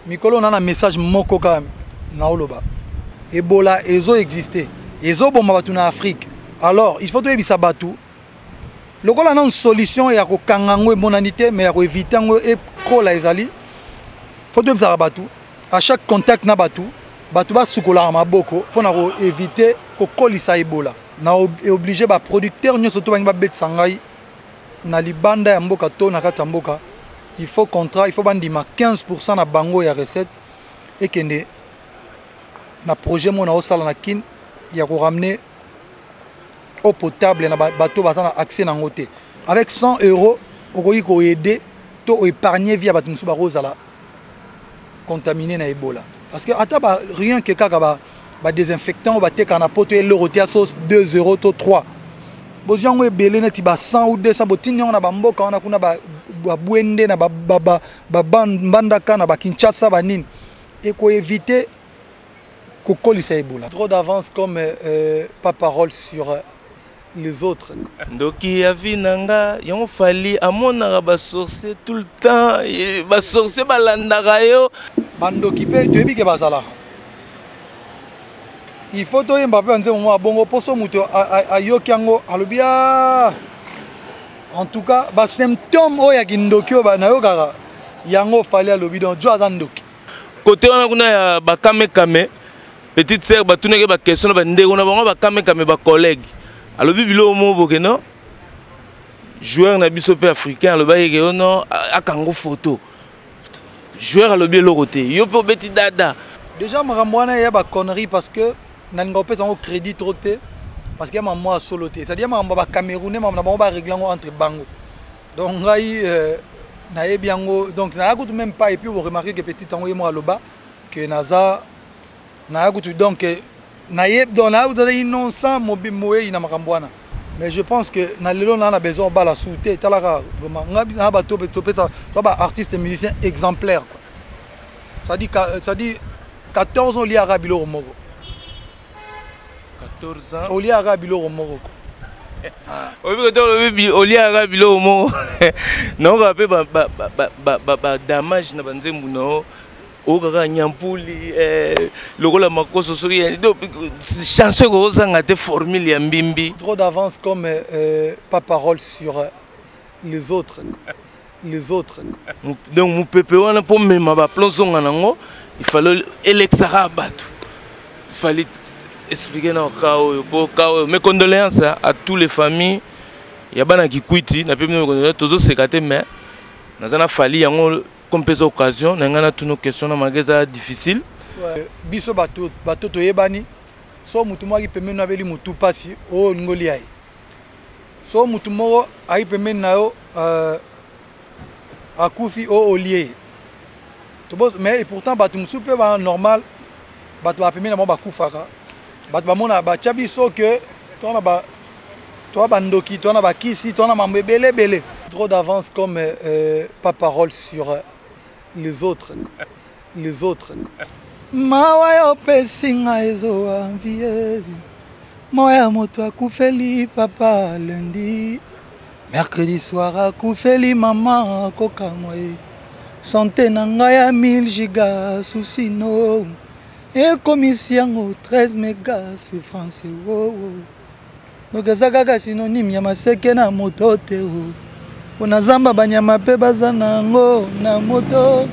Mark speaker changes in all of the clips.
Speaker 1: mikolo na na message moko kaka naoloba ebola ezo existe ezoboma bato na afrique alors il faut toyebisa bato lokola nanu solution ya kokanga yango emonani te mais ya koevite yango ekola ezali faut toyebisaka bato à chaque contact na bato bato basukolaka maboko mpo na koevite kokolisa ebola na oblige ba producteurs nyoso to bangi ba bet sangai na libanda ya mboka to na kati ya mboka il faut contrat il faut bandima 15% na bango ya recette ekende na projet mona osala na kin ya ko ramener eau potable na bato baza na accès na yango te avec 100 euros okoki koaide to oépargne vie ya bato mosusu bakozala contamine na ebola parce que ata ba rien que kaka ba ba désinfectant bateka na poto eloko te ya sauce 2 euro to 3 bozwi yango ebele neti ba 100 ou 200 botindi yango na bamboka wana kuna babwende na bambandaka na bakinshasa banini ekoevite kokolisa ebola trop d'avance comme euh, pas parole sur euh, les autres ndoki ya
Speaker 2: vie na nga yango fali amonaka basorcier tout le temps basorcier balandaka yo bandoki mpe
Speaker 1: toyebi ke bazalaka il faut toyemba mpe banzembo mwa bongo mposo moto ayoki yango alobi a ah! en tout cas basymptome oyo ya kindoki oyo nayokaka yango fali alobi donc jo aza ndoki kote wana kuna
Speaker 2: ya bakamekame petite sœur batunaki ye baquestion na bandeko na bango bakamekame bacollègue alobi biloko moko boke no joueur na biso mpe africain alobaki eke yo no akango photo joueur alobi eloko te yo mpe obeti dada déjà makambo
Speaker 1: wana ya baconnerie parce que nalinga kopesa yango crédit trop te parce que ya makambo ya solo te cetadire makambo ya bacamerounais makambo na bango baregle yango entre bango donc ngai euh, nayebi yango donc naya kutu même pas epuis oremarke ke petit yango ye moko aloba ke naza naya kutu donc naye donc naya kutu innocent moyeyi na makambo wana mais je pense que na lelo naa na besoin obala su te etalaka vraiment nga na bato topesa to ba artiste musicien exemplaire quoi cestadi cestadi 14 ans oliaka biloko moko 14 ans
Speaker 2: oliaka biloko moko
Speaker 1: quoi oyebi kote olobi
Speaker 2: oliaka biloko moko naoka mpe badamage na banzembu na yo oyo kaka nyampuli eh, lokola makoso soki chanson ekokozanga te formule ya mbimbi trop d'avance comme
Speaker 1: euh, pas parole sur euh, les autres les autres donc mopepe
Speaker 2: wana mpo mema baplon zonga nango ifale elekisaka bato ifali explike na ka oyo mpo ka oyo mes condoléances à tous les familles ya bana kikwiti na mpe tozo seka te mais naza na fali yango comme pesa occasion na ngai natuna question na malgré eza difficile biso
Speaker 1: bato toyebani so motu moko aki pembeni na abeli motu mpasi oyo olingi olia ye so motu moko aki pembeni na yo euh, akufi oyo olie ye mais pourtant bato mosusu mpe ba normal bato bapembeni na bango bakufaka bato bamona batya biso ke tona toi bandoki toi na bakisi toi na mambo ebele ebele trop d'avance comme euh, euh pas parole sur euh, les autres les autres mawa ya opesi nga ezowa vie moya ya moto akufeli papa lundi mercredi soir akufeli mama akokamwa ye sante na ngai ya 1000 giga susino ekomisi yango 13 mega souffrance wowo oh, oh. donc eza kaka synonyme ya maseke na moto te mpo na zamba banyama mpe baza na yango na moto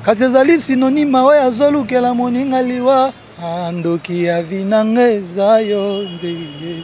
Speaker 1: kasi ezali synonyme oyo azolukela moninga liwa ah, ndoki ya vinanga eza yo nzeye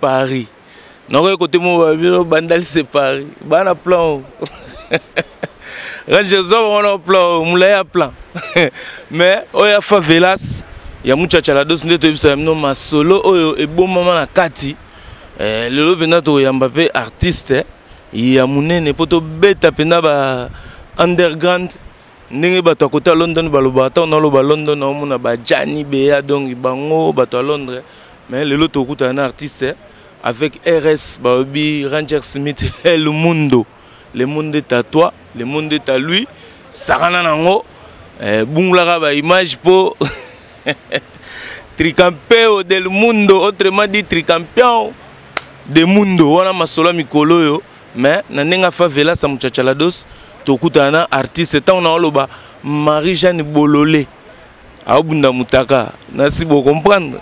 Speaker 2: Paris. Nakoki kote mo ba bino bandali se Paris. Bana plan. Range zo wana plan, mulai ya plan. Mais oya favelas ya muchacha la dos nde toyebisa bino masolo oyo ebombama na kati. Eh, lelo mpenza tokoyamba mpe artiste eh, ya monene mpo tobeta mpenza ba underground ndenge bato ya kota london balobaka ntango naloba london naomona bajani beya dongi bango bato ya londres mais lelo tokutana na artiste avec rs balobi ranger smith el mundo le monde est à toi le monde est à lui sakana nango eh, bungulaka baimage mpo tricampeo del mundo autrement dit tricampion de mundo wana masolo ya mikolo oyo mais na ndenge favela sa muchachalados tokutana na artiste ntango na oloba marie jeanne bolole aobunda mutaka nasi bocomprendre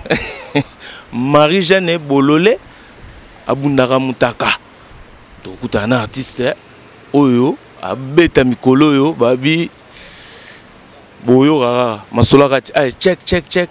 Speaker 2: marie jeanne bolole abundaka mutaka tokutana na artiste oyo abeta mikolo oyo babi boyokaka masolo kati ay check check check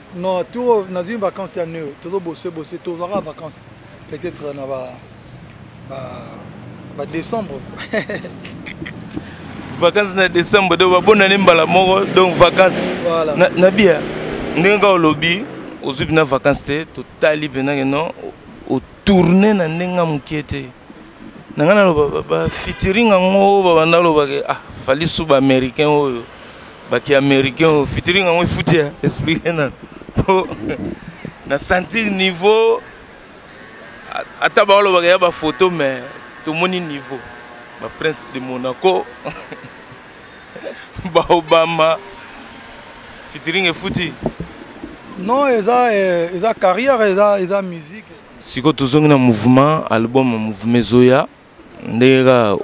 Speaker 2: Non, tout
Speaker 1: dans une vacance à nous, tout bosser bosser, tout aura vacances. Peut-être euh, na ba ba ba décembre.
Speaker 2: vacances na décembre donc ba bonne année mbala moko donc vacances. Voilà. Na, na bien. Ndenge au lobby, aux na vacances te, totali penake non, au tourner na ndenge mukiete. na ngai naloba bafitiring yango babanda alobake ah fali su baaméricain oyo baki américain oyo fitiring yango efuti ya explike nano po na sentir niveau ata baolobaka ya bafoto mais tomoni niveau baprince de monaco baobama fitiring efuti non
Speaker 1: eza eh, eza carrière eza eza musique siko tozongi na
Speaker 2: mouvement album ya mouvement ezoya ndenge kaka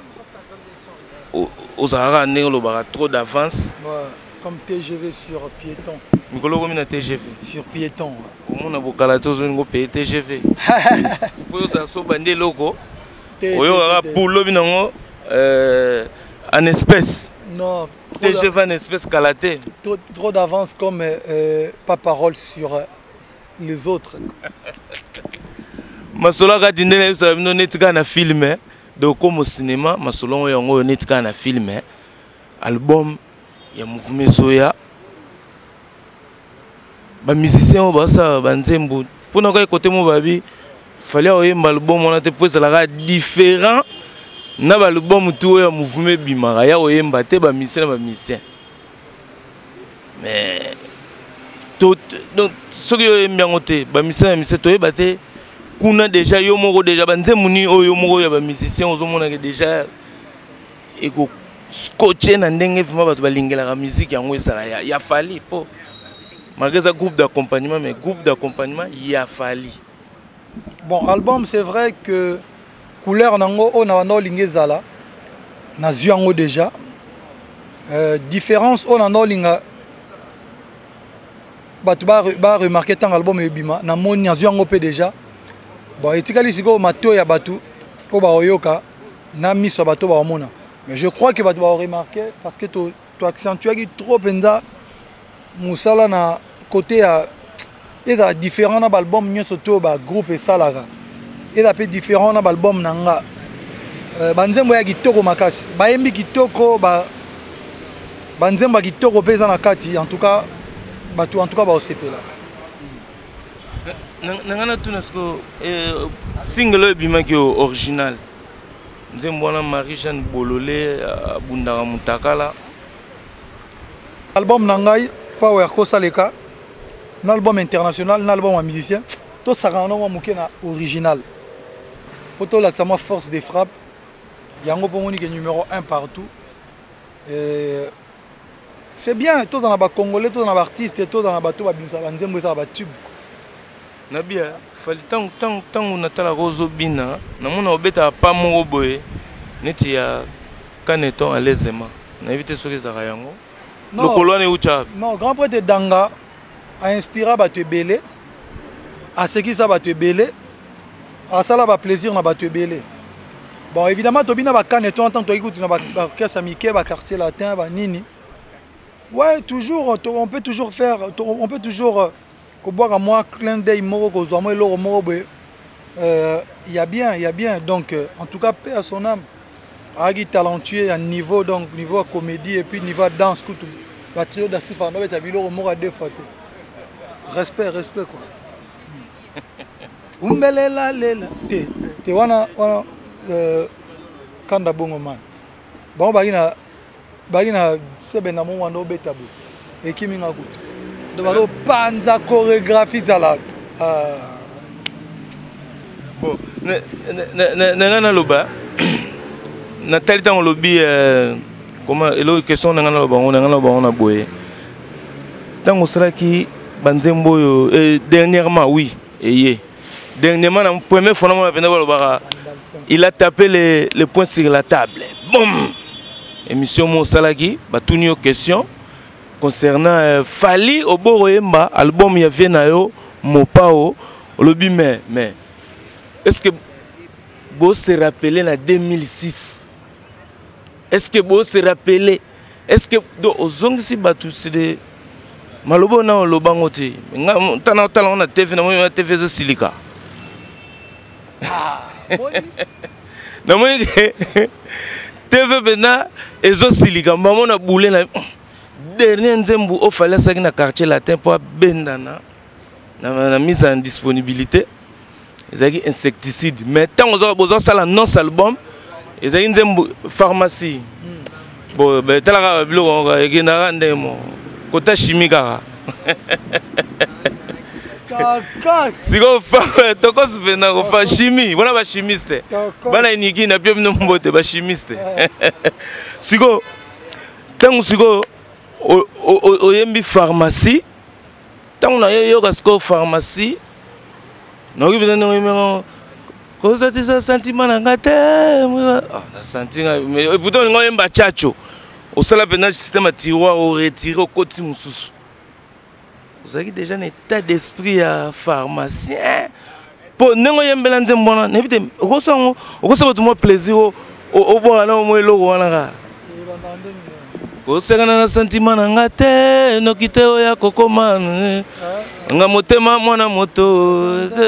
Speaker 2: ozalaka kaka ndenge olobaka trop d'avance comme
Speaker 1: tgv sur piéton mikolo okomi na
Speaker 2: tgv sur piéton
Speaker 1: omona bokala
Speaker 2: te ozolingi opeye tgv mpo ozala soba nde eloko oyokaka bulobi nango euh, en espèce non
Speaker 1: tgv en espèce
Speaker 2: kala te trop d'avance
Speaker 1: comme euh, pas parole sur euh, les autres
Speaker 2: masolo ya kati nde nayebisaka bino neti kaka na filme eh. donc komo cinéma masolo yango yango oyo neti kaka na filme eh. album ya mouvema ezoya bamusicien oyo basala banzembo mpo na kaka kote mo babi fali akoyemba album wana te mpo ezalaka différent na baalbum tu oyo ya mouvema ebimaka ya koyemba te bamusicien na bamusicien mais to donc soki yo oyembi yango te bamisala ya mise toyeba te kuna deja yo moko deja banzembo nini oyo yo moko ya bamusicien ozomonake deja eko scotche na ndenge vrima bato balingelaka miziki yango ezala ya, ya fali mpo malgre eza groupe d'accompagnement mais groupe d'accompagnement ya fali bon
Speaker 1: album c'est vrai que couleur nango oyo na banda olingi ezala nazwi yango déjà euh, différence oyo nanda olinga bato baremarke ntango album ebima namoni nazwi yango mpe déjà bon etikali sikoyo matoi ya bato oyo baoyoka na miso ya bato baomona mais je crois que bato baoremarke parce que to to accentuaki trop mpenza mosala na kote ya ezala différent na baalbum nyonso to bagroupe esalaka eza mpe différent na baalbum na nga euh, banzembo ya kitoko makasi bayembi kitoko ba banzembo ya kitoko mpe eza na kati en tout cas bato en tout cas baosepela
Speaker 2: na ngai natuna siko eh, single oyo ebimaki original nzembo wana marie jeanne bolole abundaka mutakala
Speaker 1: album na ngai power kosaleka na album international na album ya musicien tosakana nango moke na original mpo tolakisa mwa force de frappe yango mpo omoni ke numéro 1 partout Et c'est bien tozala na bacongolais tozala na baartiste tozala na bato babimisaka banzembo ezala batube na
Speaker 2: bia fali tangu tangu tangu natalaka ozobina namona obetaka pa moko boye neti ya caneton alezema nayebi te soki ezalaka yango lokolo wana eutyaka non grand prêtre danga
Speaker 1: ainspira bato ebele asekisa bato ebele asala baplaisir na bato ebele bon évidemment tobina bacaneton ntango toyaki kutu na baorchestre ya mike baquartier latin banini ouais toujours on peut toujours faire on peut toujours euh, kobwaka mwa clin d'oeil moko kozwa mwa eloko moko boye euh, ya bien ya bien donc euh, en tout cas paix à son âme ayaki talentueux ya niveau donc niveau ya comédie et puis niveau ya danse kutu batrio da sifa na beta biloko moko ya deux fois te respect respect quoi umbelela lela te te wana wana euh, kanda bongo man bango baki na baki na sebe na mo wanda obeta boye ekimi nga kutu do bazopanza chorégraphie tala ah.
Speaker 2: bon na ngai naloba natali ntango olobi euh, koma eloko question na ngai naloba yango na ngai naloba yango na boye ntango osalaki banzembo oyo eh, dernièrement oui eye dernièrement na premier fona mona penda balobaka il a tapé le, le point sur la table bom émission mo osalaki batuni yo question concernant euh, fali oboro yemba album ya vie na yo mopao olobi mais mais est ce que bo se rappeler na 2006 est ce que bo se rappeler est ce que do ozongisi bato side maloba oyo na oloba yango te nta na otala yango na tv namoni na tv ezosilika ah, namoni ke tv mpenza ezosilika mbamo na bule na dernier nzembu ofale asaki na quartier latin mpo abendana na, na mise en disponibilité ezalaki insecticide mais ntango bozosala nonce album ezalaki nzembo pharmacie hmm. bo etalaka biloko moko ekendaka ndenge moko kota chimie kaka sikoyo tokos mpe na kofa chimie wana bachimiste bana eniki na byo bino mbote bachimiste eh. sikoyo ntango sikoyo oyembi pharmacie ntango na yo yoka sikoyo pharmacie naoki mpenza ndenge oyemengo kozatisa sentiment na ngai te ah, na senti ngai mais eh, pourtant olinga oyemba chacho osala mpenza système ya tiroir oretire okoti mosusu ozalaki déjà na état d'esprit ya pharmacien mpo ndenge oyembela nzembo wana nayebi te okosa yango okosa bato mwa plaisir obwaka na omwa eloko wana kaka kosekana na santima na nga te noki te oyo akokoma eh. nga motema mwana moto te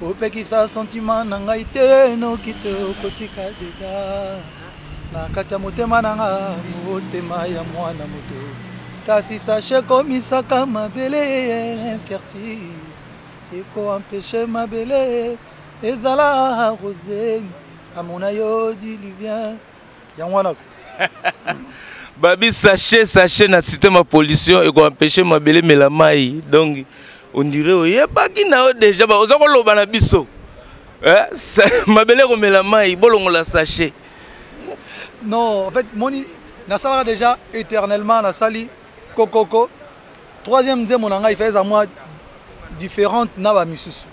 Speaker 2: kopekisa sentiment na ngai te noki te okotika dega na kati ya motema na nga motema ya mwana moto kasi sashe komisaka mabele infertile ekoampeshe mabele ezala rose amona yo diluvien yango wana babi sachet sachet na système ya pollution ekoempeshe mabele emela mai donc ondire oyebaki na yo deja oza koloba na biso eh, mabele ekomela mai bolongola sachet
Speaker 1: non en fait moni nasalaka déjà éternellement nasali kokoko troisième nzembo na ngai faeza mwa différente na bamisusu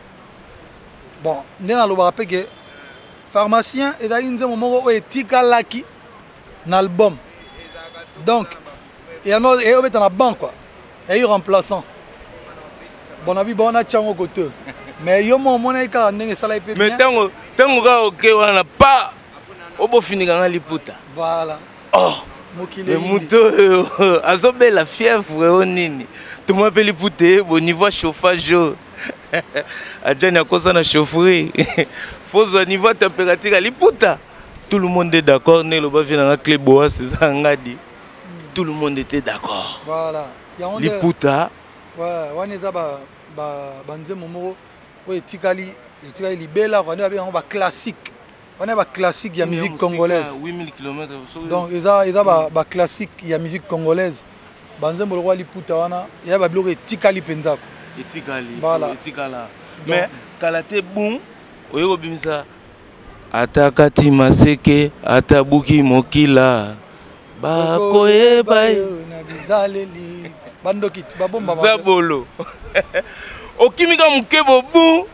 Speaker 1: bon nde nalobaka mpe ke pharmacien ezalaki nzembo moko oyo etikalaki na album donc yango eyobeta na banc kua eyi remplaçant bona biba wana tiango kote mais yo moko omonaki kaka ndenge esalaki mpe mais ntango ntango
Speaker 2: kaka oke wana pa obofinika nga liputa voilà
Speaker 1: oh
Speaker 2: mais moto oyo azobela fièvre o nini toma mpe liputa ye bonivoa chauffage oyo ajani akosa na chaufferie fozwa niveau ya température ya liputa tout le monde est d'accord nde eloba vie nanga cle boas eza ngadi hmm. tout le monde était d'accord voilà.
Speaker 1: liputa
Speaker 2: wana
Speaker 1: eza banzembo moko oyo etikali etikali libela kua nde babenga yango baclassique wana ba classique ya musique congolaise
Speaker 2: donc eza eza
Speaker 1: ba, ba classique ya musique congolaise banzembo lokola liputa wana ya babiloko etikali mpenzako etikali
Speaker 2: voilà. etikala
Speaker 1: mais
Speaker 2: kala te bum oye kobimisa ata kati maseke ata buki mokila bakoyeba yo
Speaker 1: na bizaleli bandoki babomba zabolo
Speaker 2: okimika moke bobu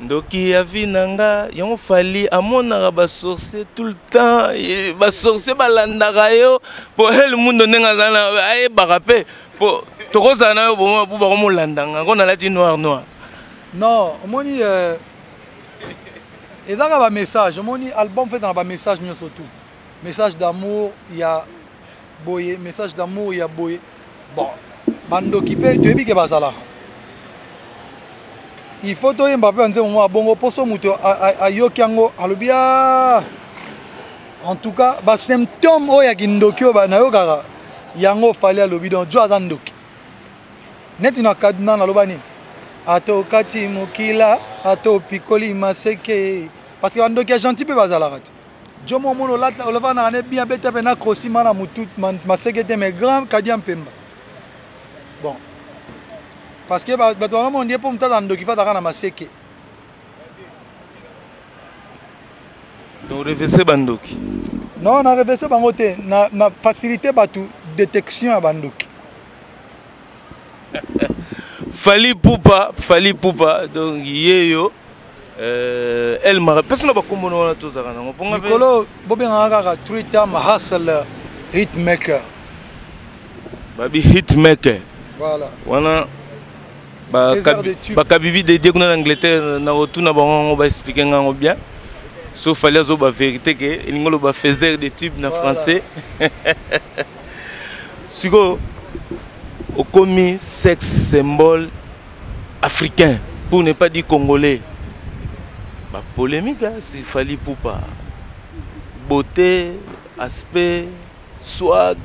Speaker 2: ndoki ya vie na nga yango fali amonaka basorcier tout le temps basorcier balandaka yo mpo hel mundo ndenge azali na ayebaka mpe mpo tokozala na yo bakomolanda nga yango nalati noir noir non
Speaker 1: omoni euh, ezaka bamessage omoni album fetana bamessage nyonso tout message d'amour ya boye message d'amour ya boye bon bandoki mpe toyebi ke bazalaka il faut toyemba mpe banzembo mwa bongo mposo moto ayoki yango alobi a ah! en tout cas basymptome oyo ya kindoki oyo nayokaka yango fali alobi donc jo aza ndoki neti na kaduna naloba nini atokati mokila atopikoli maseke parce que bandoki ya gentil mpe bazalaka te Jomo omona olata olavanaka ne bien beta pe na crosi mana mutu maseke te mais grand kadia mpemba bon parce que bato wana mona ndie mpo moto aza ndoki fataka na maseke
Speaker 2: donc revese bandoki non na
Speaker 1: revese bango te na, na facilité bato détection ya bandoki
Speaker 2: fali pupa fali pupa donc yeyo euh, el mara mpesi na bakombo na wana tozalaka nango mpolikolo bobengaka
Speaker 1: kaka twitter mahasel hitmaker
Speaker 2: babi hitmaker voilà. wana bakabibi dedie kuna na angleterre na otuna bango yango baexplike ngango bien so fali azoba vérité ke elingi oloba faiseur de tube na voilà. français sikoyo okomi sex symbole africain pour ne pas dire congolais bapolémike hein, sifali pupa beauté aspect swag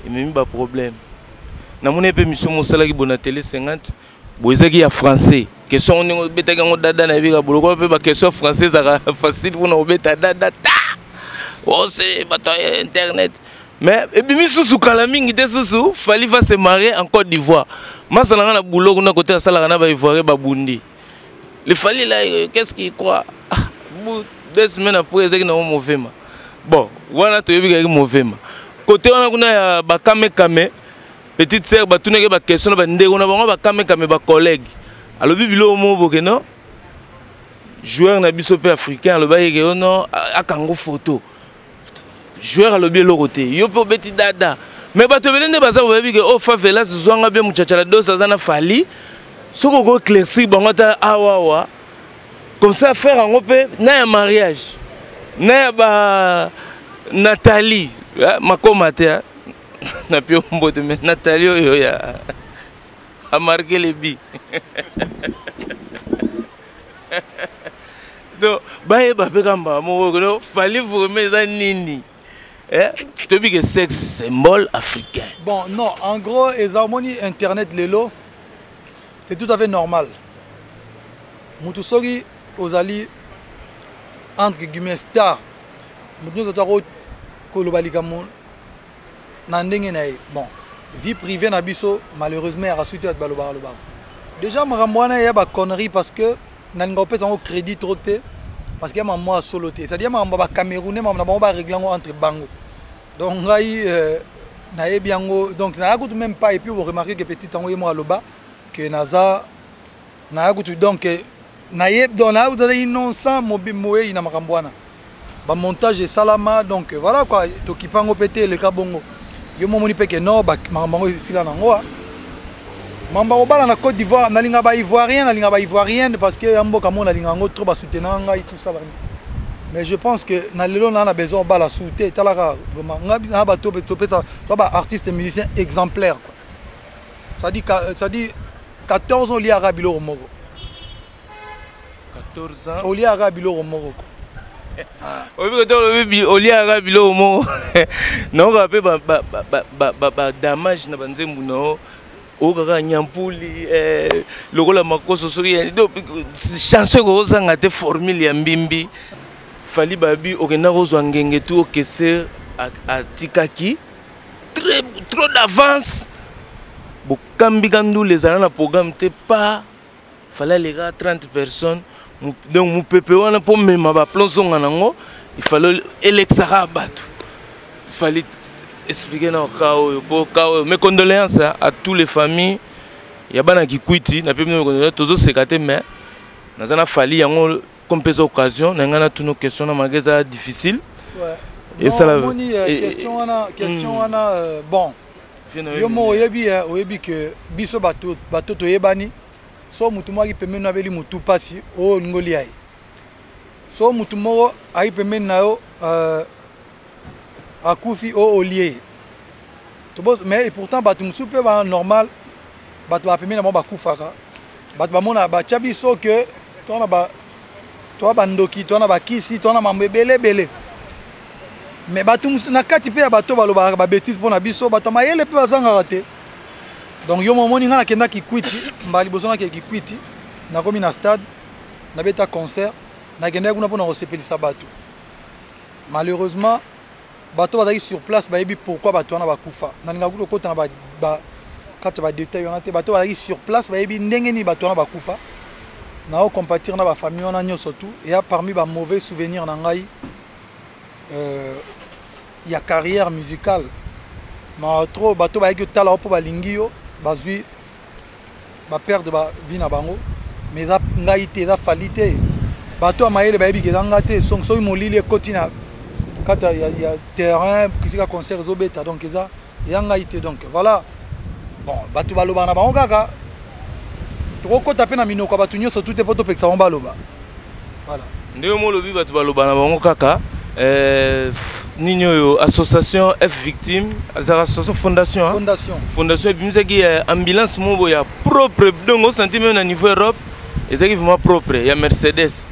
Speaker 2: ememi baproblème namoni mpe misio mosalaki bonatele 50 boyezaki ya français question ndenge obetaki yango dada na ebika bolokolo mpe baquestion français ezaka facile mpona obeta dada ta ose oh, bato ya internet mais ebimi susu kala mingi te susu fali va se marie en côte d'ivoire masala nga na boulot kuna kote asalaka na baivoirien babundi le fali la euh, qu'est ce qui croit ah, deux semaines après ezalaki nango movema bon wana toyebi kaki movema kote wana kuna ya bakamekame petite sœur batunaki ye baquestion na bandeko na bango bakamekame bacollègue alobi biloko moko boke no joueur na biso mpe africain alobaki eke yo no akango photo joueur alobi eloko te yo mpe obeti dada me bato ebele nde baza koyebi ke o oh, favelas zwanga mpe muchachala dos aza na fali soki okoeclaircir bango ata awawa comme ça affaire yango mpe na ya mariage na ya ba nathalie eh, makoma te eh. na pio mbote me natali oyo ya amarke lebi donc bayeba mpe ka mbala moko kono fali vreme eza nini eh? toyebi ke sexe symbole africain bon non en
Speaker 1: gros eza omoni internet lelo c'est tout à fait normal motu soki ozali entre guillemets star motu nyonso to ako koloba likambo na ndenge na ye bon vie privée na biso malheureusement ya rasuti bato balobaka lobaka déjà makambo wana ya baconnerie parce que nalinga kopesa yango crédit trop te parce que ya makambo ya solo te c'est-à-dire makambo ya bacamerounais makambo na bango baregle yango entre bango donc ngai euh, nayebi yango donc naya kutu même pas epuis oremarke ke petit yango ye moko aloba ke naza naya kutu donc naye donc naya kutu azalaki nonsan moyeyi na makambo wana bamontage esalama donc voilà kua tokipa yango mpe te eleka bongo yo momoni mpe ke no makambo yango esila na yango mambo akobala na côte d'ivoire nalinga baivoirien nalinga baivoirienne parce que ya mboka mo nalinga yango trop basoutenaka ngai tout ça mais je pense que na lelo naa na besoin obala sou te etalaka vraiment ngai na bato topesa baartiste musicien exemplaire quoi. cest à dire 14 ans oliaka biloko moko 14 ans
Speaker 2: oliaka biloko moko
Speaker 1: oyebi kote olobi
Speaker 2: oliaka biloko moko naoka mpe badamage na banzembu na yo okaka nyampuli eh, lokola makoso soki chanson ekokozanga te formule ya mbimbi fali babi okenda kozwa ngenge tu okese atikaki très trop d'avance bokambi ka ndule ezala na programme te pa falaleka 30 personnes donc mopepe wana mpo mema baplon zonga nango ifale elekisaka bato ifali explike na ka oyo mpo ka oyo mes condoléances à tous les familles ya bana kikwiti na mpe tozosekate mais naza na fali yango comme pesa occasion na ngai natuna question na malgré eza difficile
Speaker 1: esalamoni euh, euh, question wana question hmm. wana euh, bon yo moko oyebi oyebi ke biso bato bato toyebani so motu moko aki pembeni na abeli motu mpasi oyo olingi olia ye so motu moko aki pembeni na yo akufi o oh, olie toboz mais pourtant bato mosusu mpe ba normal bato bapemi na bango bakufaka bato bamona batya biso ke toa na ba toa bandoki toa na bakisi toa na mambo ebele ebele mais bato mosusu na kati mpe ya bato balobaka babetise mpo na biso bato ya mayele mpe bazangaka te donc yo momoni ngai nakenda kikwiti mbala liboso nakee kikwiti nakomi na stade nabeta concert nakendaki kuna mpo na kosepelisa bato Malheureusement, bato bazalaki sur place bayebi pourquoi bato wana bakufa. Nalingaka kutu kokota na ba, ba kati ya badetail wana te. Bato bazalaki sur place bayebi ndenge nini bato wana bakufa. Nao compatir na bafamille wana nyonso tu eya parmi ba mauvais souvenir na ngai euh, ya carrière musicale ma trop bato bayaki otala yo mpo balingi yo bazwi baperdre bavi na bango ma eza ngai te eza fali te bato ya mayele bayebi ke eza nga te soki molili ekoti na kati ya terrain kisika concert ezobeta donc eza ya ngai te donc voilà bon bato balobaka na bango kaka tokokɔta mpe na minoko ya bato nyonso tu te mpo topekisa bango baloba Voilà. Nde yo molobi
Speaker 2: bato baloba na bango kaka euh, nini oyo association f victime azalaka association fondation fondation, fondation ebimisaki euh, ambulance moko ya propre donc osanti meme na niveau europe ezalaki vraiment propre ya mercedes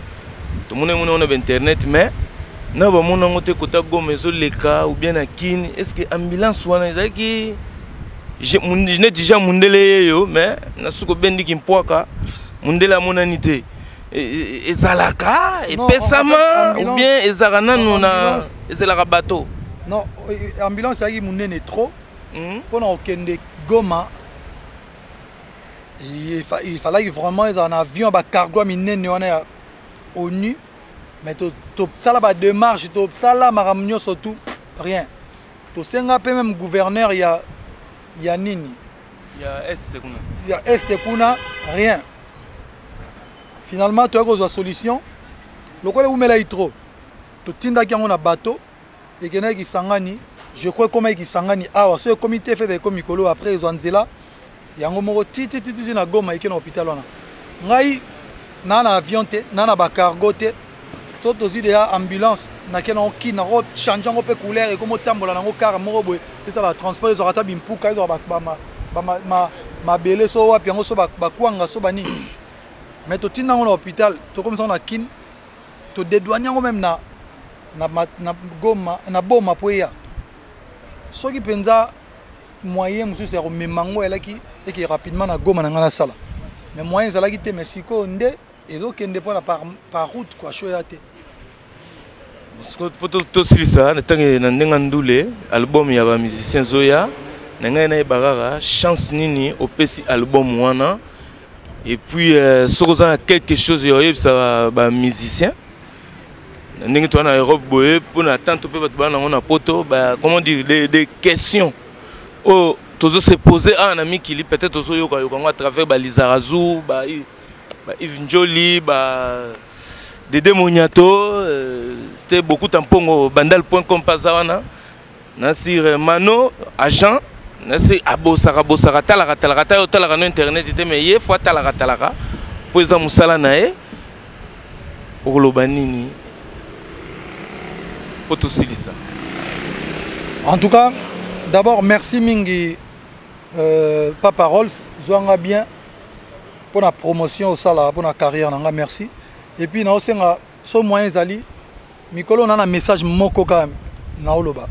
Speaker 2: tomoni yango nango na bainternet mais na bamona yango te kota goma ezoleka ou bien na kini est ce que ambulance wana ezalaki neti jean mundele yeyo mais nasuki obendiki mpwaka mundele amonani te ezalaka epesama ou bien ezalaka nanu na ezalaka bateau non euh,
Speaker 1: ambulance ezalaki monene trop hmm? mpo na kokende goma il fallaki vraiment ezala na avion ya bacargo ya minene wana ya onu mais tosala bademarche tosala makambo nyonso tout rien tosenga mpe meme gouverneur ya ya nini ya este kuna ya este kuna rien finalement toyaki kozwa solution lokola eumelaki trop totindaki yango na bateau ekendaki kisangani je crois ekomaki kisangani awa so ekomi te fete ekomi mikolo après ezwa nzela yango moko tititititi na goma eke na hôpital wana ngai naa na avion te naa na bacargo te so tozwi deja ambulance nake nango kin nako change yango mpe couleur ekomi otambola nango kara moko boye ezala transport ezwaka ata bimpuka ezwaka mabele so wapi yango so bakwanga so banini mais totinda yango na hôpital tokomisa yango na kin todedouane yango meme na, na, na, goma, na boma mpo eya soki mpenza moyen mosusu ya komema yango elaki eke rapidement na goma na ngai nasala mais moyen ezalaki te mais sikoyo nde ezo kende pona par, par route quoi show ya te
Speaker 2: mpo tosilisa na ntango na ndenge ndule album ya bamusicien ezoya na ngai nayeba kaka chance nini opesi album wana epuis euh, soki oza na quelque chose ya oyebisa bamusicien na ndenge toza na europe boye mpo na tanto mpe bato baa nango na poto comment dire des, des questions oyo oh, tozo se pose awa na mikili peut-être ozoyokayoka yango à travers balizarazu ba ba Yves Njoli ba Dede Moniato euh, te beaucoup tampongo bandal.com paza wana na sur euh, Mano agent na se abosaka bosaka talaka talaka ta yo talaka no internet te mais ye fois talaka talaka po eza musala na ye okoloba nini po tosilisa
Speaker 1: en tout cas d'abord merci mingi euh, papa Rolls zwanga bien mpo na promotion osalaka mpo na carrière na nga merci et puis naosenga so moyen ezali mikolo na na message moko kaka naoloba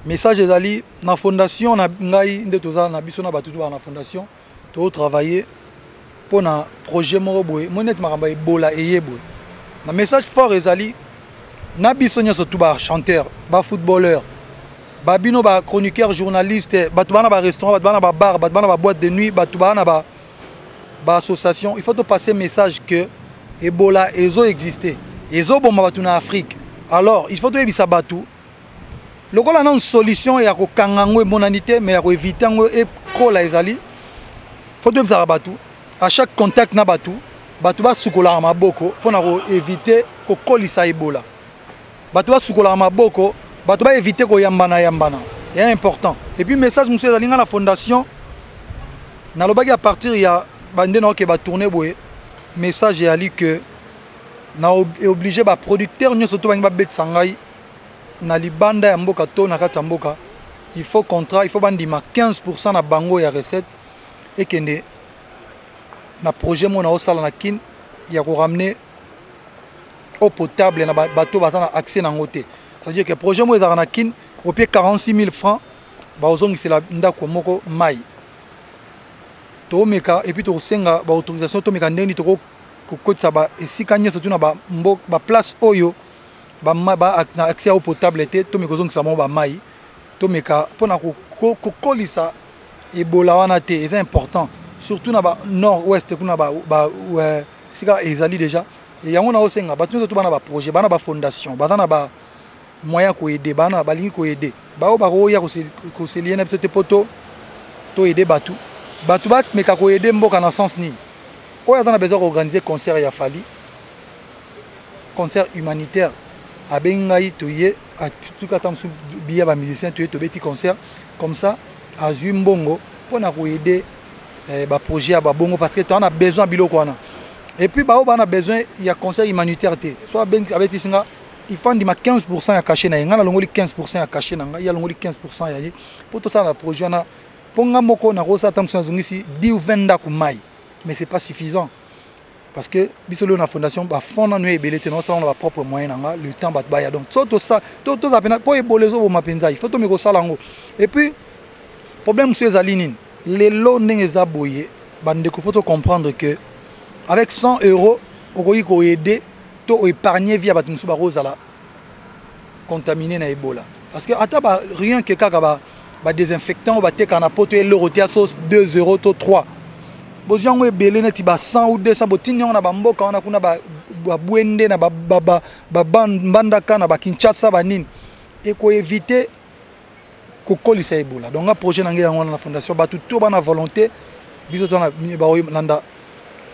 Speaker 1: message ezali na fondation na ngai nde toza na biso na bato tobaa na fondation totravaille mpo na projet moko boye moi neti makambo ebola eye boye na message fort ezali na biso nyonso tu ba chanteur ba footballeur ba bino ba chroniqueur journaliste bato bana ba restaurant bato bana ba bar bato bana ba boîte de nuit bato bana ba ba association il faut to passer message que ebola ezo exister ezoboma bato na afrique alors il faut toyebisa bato lokola nanu solution ya kokanga yango emonani te mais ya koevite yango ekola ezali faut toyebisaka bato à chaque contact na bato bato basukolaka maboko mpo na koevite kokolisa ebola bato basukolaka maboko bato baevite koyambana yambana ya important epuis message mosusu ezali ngai na fondation nalobaki à partir ya bande naoke batourne boye message eyali que na eoblige baproducteur nyonso to bangi babetisa ngai na libanda ya mboka to na kati ya mboka il faut contrat il faut bandima 15 pourcent na bango ya recette ekende na projet moko naosala na kin ya koramener eau potable na bato baza na accès nango te c'est-à-dire que projet moko ezalaka na kin opie 46 000 francs bakozongisela ndako moko mai tomeka epuis tokosenga baautorisation tomeka ndenge nini toko kokotisa ba esika nyonso tu na ba mbo ba place oyo ba ba na accès au potable te to meko zongisa mo ba mai to meka pona ko ko kolisa ebola wana te eza important surtout na ba nord ouest kuna ba ba sika ezali deja yango na osenga bato nyonso to bana baprojet bana bafondation baza na ba moyen ya koede bana balingi koede baoyo bakoya koselie na biso te mpo to toede bato bato bameka koede mboka na sens nini oyo aza na besoin koorganize concert ya fali concert humanitaire abengi ngai toye atuki ata mosusu biya bamusicien toye tobeti concert comme ça azwi mbongo mpo na koede eh, ba projet ya babongo parce que toza na besoin ya biloko wana et puis baoyo baa na besoin ya conseil humanitaire te so abetisi nga ifa ndima 15 pourcent ya cachet na ye ngai nalongoli 15 pourcent ya cachet na ngai ye alongoli 15 pourcent ya ye mpo tosala na projet wana mpo ngai moko nakosala ntango mosusu nazongisi 10 ou 20 ndako mai mais c'est pas suffisant parce que biso lelo na fondation bafond nanu ya ebele te naosala na bapropre moyen na nga le temps bato baya donc so toza mpena mpo ebola ezoboma mpenza il faut tomeka osala yango et puis problème mosusu ezali nini lelo ndenge eza boye bandeko faut tocomprendre que avec 100 euros okoki koaide to oépargne vie ya bato mosusu bakozala contamine na ebola parce que ata ba rien que kaka ba ba désinfectant bateka na poto eloko te ya sauce 2 euro to 3 bozwi yango ebele neti ba 100 ou 200 botindi yango na bamboka wana kuna babwende na babandaka na bakinshasa banini ekoevite kokolisa ebola donc nga projet na ngai yango wana na fondation bato to bana volonté biso tona baolanda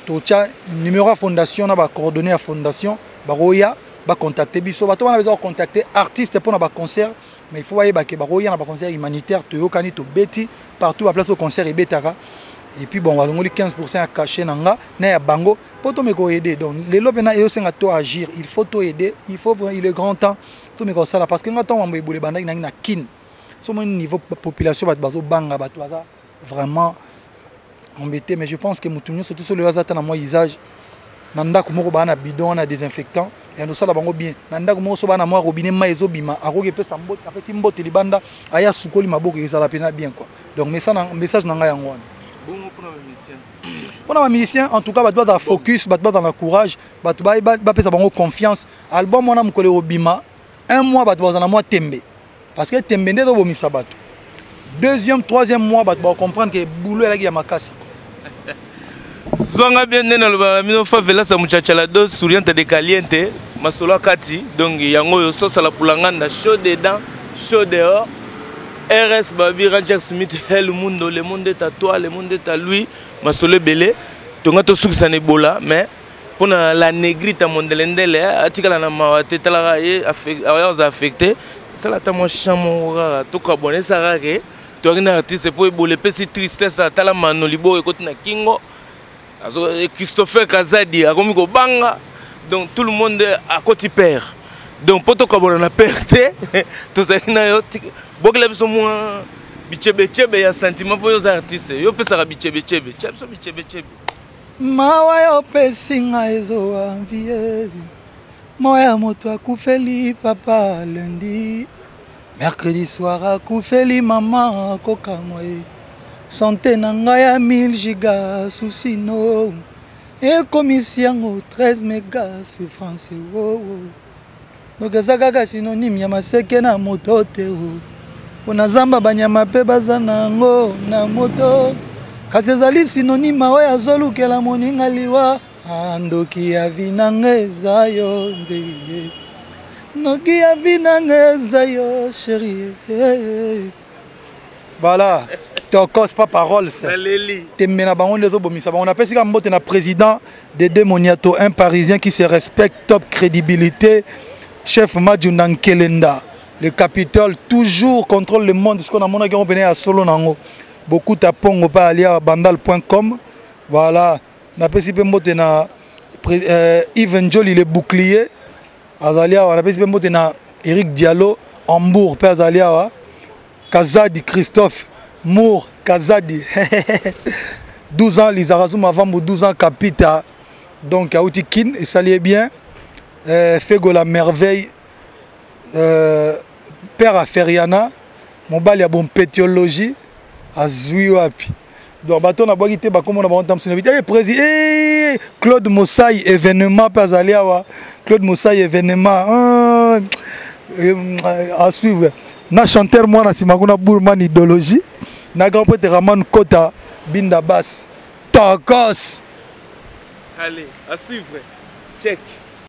Speaker 1: totya numéro ya fondation na bacoordonné ya fondation bakoya bacontacte biso bato wana beza kocontacte artiste mpo na baconcert mais il faut bayeba ke bakoya na baconcert humanitaire toyokani tobeti partout baplace oyo concert ebetaka et puis bon balongoli 15 pourcent ya cachet na nga na ya bango mpo tomeka koaide donc lelo mpena eyosenga to agir il faut toaide il faut il est grand temps tomeka kosala parce que nga ntango mambo ebule ebandaki nangi na kin so omoni niveau population bato bazobanga bato baza vraiment embêté mais je pense que motu nyonso toso loyo aza ata na mwa usage na ndako moko baa na bidon wana désinfectant yando osala bango bien na ndako moko so baa na mwa robinet mai ezobima akoki epesa mbote apesi mbote libanda aye asukoli maboko ezala mpena bien quoi donc message na ngai yango wana
Speaker 2: mpona bamusicien
Speaker 1: en tout cas bato bazala focus bato bazala na courage bato bapesa bango confiance album wana mokolo ekobima un mois bato bazala mwa tembe parce que tembe nde ezobomisa bato deuxième troisième mois bato bacomprendre ke boulot elaki ya makasi
Speaker 2: zwanga bien nde nalobaka na bino favelasa muchachala do suriente de caliente masolo akati donc yango oyo sosala pulanganda chaud dedans chaud dehors rs babi ranger smith hel mundo le monde est à toi le monde est à lui masolo ebele tonga tosukisa na ebola mais mpo na la negrite ya mondelendele eh, atikala na mawa te talaka ye aza affecte sala ata mwa champ moko kaka tokabwana esaka ke toyaki na artiste mpo ebola epesi tristesse atala mano liboko ekoti na kingo eh, christopher kazadi akomi kobanga donc tout le monde akoti père donc mpo tokabwana na père te tozali na yo bokela biso mwa bichebechebe ya sentiment mpo yo oza artiste yo opesaka bichebechebe tya biso bichebechebe
Speaker 1: Mawa yo pesi nga ezo envie moya moto akufeli papa lundi mercredi soir akufeli mama kokamwa ye sante na ngai ya 1000 giga susi no ekomisi yango 13 mega souffrance wowo oh, oh. ndoki eza kaka synonyme ya maseke na moto te mpo na zamba banyama mpe baza na yango na moto kasi ezali synonyme oyo azolukela moninga liwa ah, ndoki ya vinanga eza yo ndeye ndoki ya vinanga eza yo sherie voilà tokos pa paroles tembe na bango nde ezobomisa bango napesi ka mbote na président de de moniato un parisien qui se respecte top crédibilité chef majunda nkelenda le capitole toujours contrôle le monde sikoyo namonaki yango mpena ya solo na yango bokuta pongo pa alia bandal point com voilà napesi mpe mbote na euh, even joli le bouclier azali awa napesi mpe mbote na eric diallo hambourg mpe azali awa kazadi christophe mour kazadi 12 ans lizarazuma vambu 12 ans kapita donc auti kin esali ye bien euh, fego la merveille euh, père ya feriana mobali ya bompetiologie azwi wapi donc bato oyo nabwaki te bakombo na bango ntango mosusu nayebi te prési e claude mosai événement mpe azali awa claude mosai événement ah, eh, à suivre na chanteur mwana nsima kuna bourman idéologie na grand prêtre raman kota binda bas
Speaker 2: tokos allez à suivre check